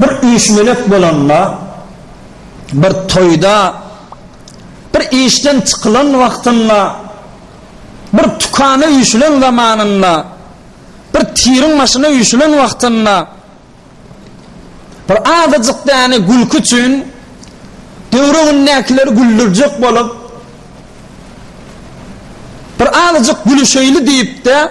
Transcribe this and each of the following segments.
Bir üýşmelek bolanda, bir toýda, bir işden çykylan wagtynda, bir tükana üýşülen zamanynda, bir tiriň başyna üýşülen wagtynda, bir azajyk däne gülki üçin töweregindäkileri güldürjek bolup, bir azajyk gülüşeýli diýip-de,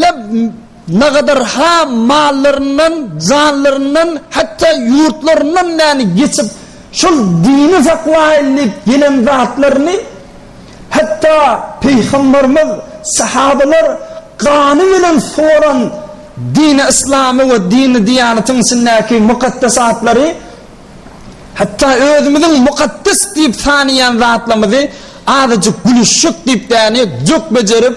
Leb nagadar ha mallaryndan, janlaryndan, hatda ýurtlaryndan näni geçip, şol dini saklaýyn diýip gelen zatlaryny, hatda Pygamberimiz, sahabalar gany bilen suwaran dini yslamy we dini diýanatyň içindäki mukaddesatlary, hatda özümiziň mukaddes diýip sanaýan zatlamyzy azajyk gülüşjek diýip däni jok bejerip,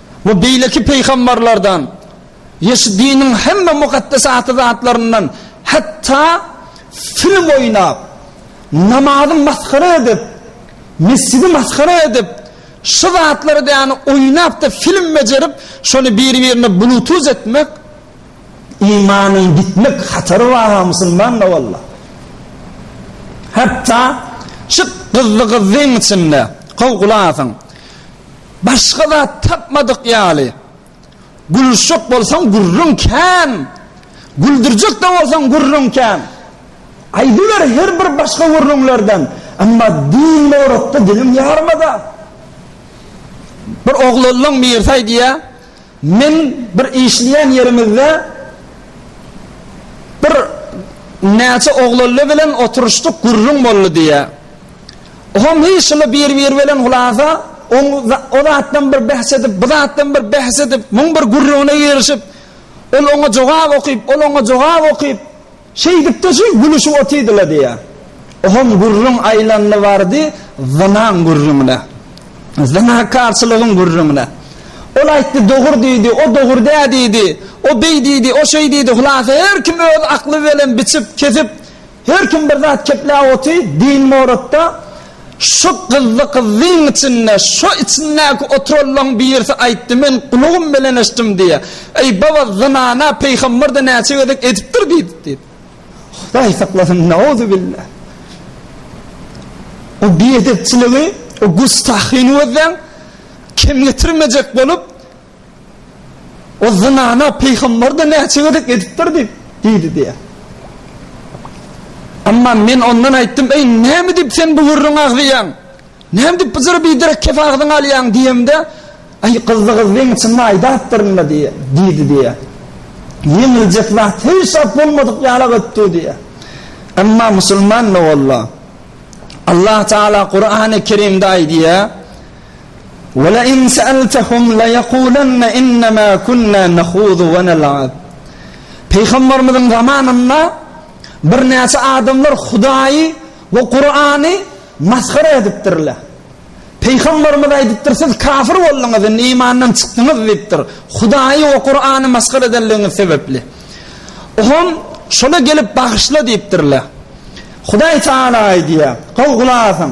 We beýleki pygambarlardan, Ýeşidiniň hemme mukaddes aty zatlaryndan, hatda film oýnap, namazy masgara edip, mesjidi masgara edip, şu zatlary däne oýnapda film bejerip, şony biri-birine bluetooth etmek, imanyň gitmek hatary bar-a musulmanda walla. Hatda şu gyzly gyzlyň içinde, gowy gulak asyň, Başga zat tapmadyk ýaly. Gülüşjek bolsaň gürrüň kän. Güldürjek-de bolsaň gürrüň kän. Aýdyber her bir başga gürrüňlerden. Emma din borasda diliň ýarmada. Bir oglanlaň mirsaý diýýär. Men bir işleýän ýerimizde bir näçe oglally bilen oturyşdyk gürrüň boldy diýýär. Oňam hiç şuly bir-biri bilen hulasa o zatdan bir bäs edip, bu zatdan bir bäs edip, müň bir gürrüňine girişip, ol oňa jogap okyp, ol oňa jogap okyp, Şeýdip-de şu gülüşip otydy-la diýýä. Oňam gürrüň aýlandy bardy zynaň gürrüňine. Zynakarçylygyň gürrüňine. Ol aýtdy, dogur diýdi, o dogur dä diýdi, o beý diýdi, o şeý diýdi, hylasa her kim öz akly bilen biçip, kesip, her kim bir zat kepläp oty, din moratda. Şu gyzdy gyzdyň içinde şo içindäki oturanlaň birisi aýtdy men gulagym bilen eşitdim diýýä. Eý baba zynana peýhamberda näçe gezek edipdir diýdi diýdi. Hudaý saklasyn nauzubilla. O biedepçiligi o gustahyny gözleň kemgetirmejek bolup O zynana pygamber-de näçe gezek edipdir diýip, diýdi diýýär. Emma men ondan aýtdym, Eý, näme diýip sen bu gürrüňi agzaýaň? Näme diýip bu jyry biderek kep agzyňa alýaň? diýemde, Aý, gyzly gyz weň içinde aýdapdyryn-da diýýär, diýdi diýýär. Ýeňiljek zat hiç zat bolmadyk ýala gitdi diýýär. Emma musulman doganlar, Allah Taala Kurany Kerimde aýdýar, Welein seeltehum leyekulenne innema kunna nahudu we nel'ab. Pygamberimiziň zamanynda birnäçe adamlar Hudaýy we Kur'any masgara edipdirler. Pygamberimiz aýdypdyr, siz kafir bolduňyz, indi imandan çykdyňyz diýipdir, Hudaýy we Kur'any masgara edenligiňiz sebepli. Oňam şola gelip bagyşla diýipdirler. Hudaý Taala aýdýar, Gowy gulak asyň!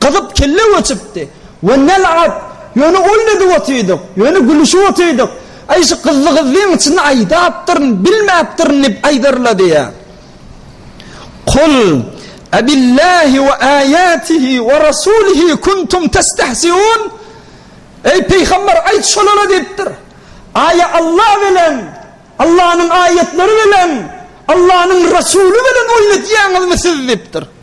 Gyzyp kelle göçüpdi. We nel-at! Ýöne ol edip otydyk, ýöne gülüşip otydyk. Aý şu gyzly-gyzlyň içinde aýdapdyryn, bilmäpdirin diýip aýdarla diýýär. Kul Abillahi we aýatihi we rasulihi kuntum testehziun? Eý pygamber aýt şolara diýipdir. Aýa Alla bilen, Allanyň aýatlary bilen, Allanyň rasuly bilen oýun edýäňizmi siz diýipdir.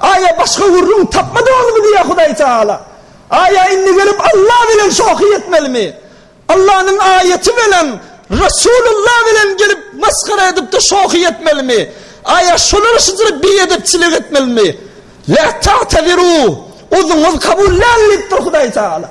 Aýa başga gürrüň tapmadyňyzmy? diýýär Hudaý Tagala. Aýa indi gelip Alla bilen şohy etmelimi? Allanyň aýaty bilen, Resulullah bilen gelip masgara edip-de şohy etmelimi? Aýa şolara şudur biedepçilik etmelimi? Lä ta'tezirû, uzuňyz kabul däl diýipdir Hudaý Tagala.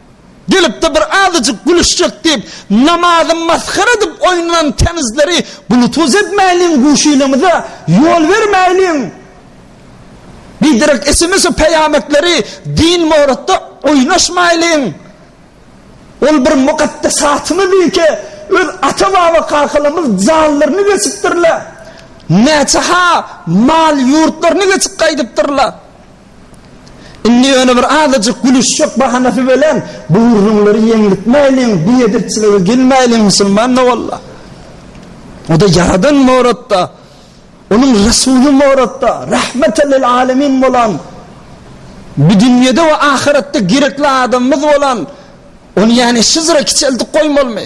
Gelip-de bir azajyk gülüşjek diýip, namazy masgara edip oýnanan kenizleri bluetooth etmäýliň guşilimize, ýol bermäýliň. Biderek sms-e peýametleri din boratda oýnaşmaýlyň. Ol bir mukaddesatymyz diýkä, öz ata-baba kakalarymyz jallaryny geçipdirler. Näçe-ha mal-ýurtlaryny geçip gaýdypdyrlar. Indi ýöne bir azajyk gülüşjek bahanasy bilen bu gürrüňleri ýeňlitmäýliň, biedepçilige gelmäýliň musulman-da walla. O-da Ýaradan Moratda, Onuň Resuly Moratda, Rahmeten lil alemin bolan, bu dünýede we ahyretde gerekli adamymyz bolan, ony ýane şyzra kiçeldip goýmalymy?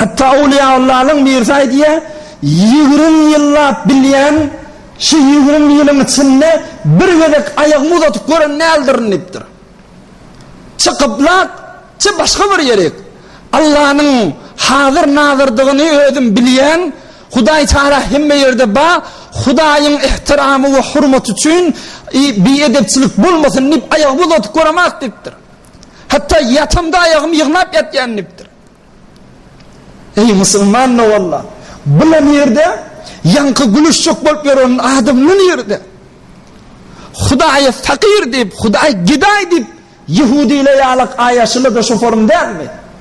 Hatda Owliýaullanyň birisi aýdýar, Ýigrimi ýyllap bilýän, şu ýigrimi ýylyň içinde bir gezek aýagymy uzadyp gören däldirin diýipdir. Çy gyblak, çy başga bir ýerik. Allanyň hazyr-nazyrdygyny özüm bilýän, Hudaý Tagala hemme ýerde bar, Hudaýyň ähtiramy we hormaty üçin biedepçilik bolmasyn diýip aýagymy uzadyp göremok diýipdir. Hatda ýatamda aýagym ýygnap ýatýan dipdir. Eý musulman nowalla, bula nirde ýaňky gülüşjek bolup ýören adamly nirde? Hudaýa fakyr diýip, Hudaý gedaý diýip ýehudile ýalak aýaşyla-da şu forum dälmi?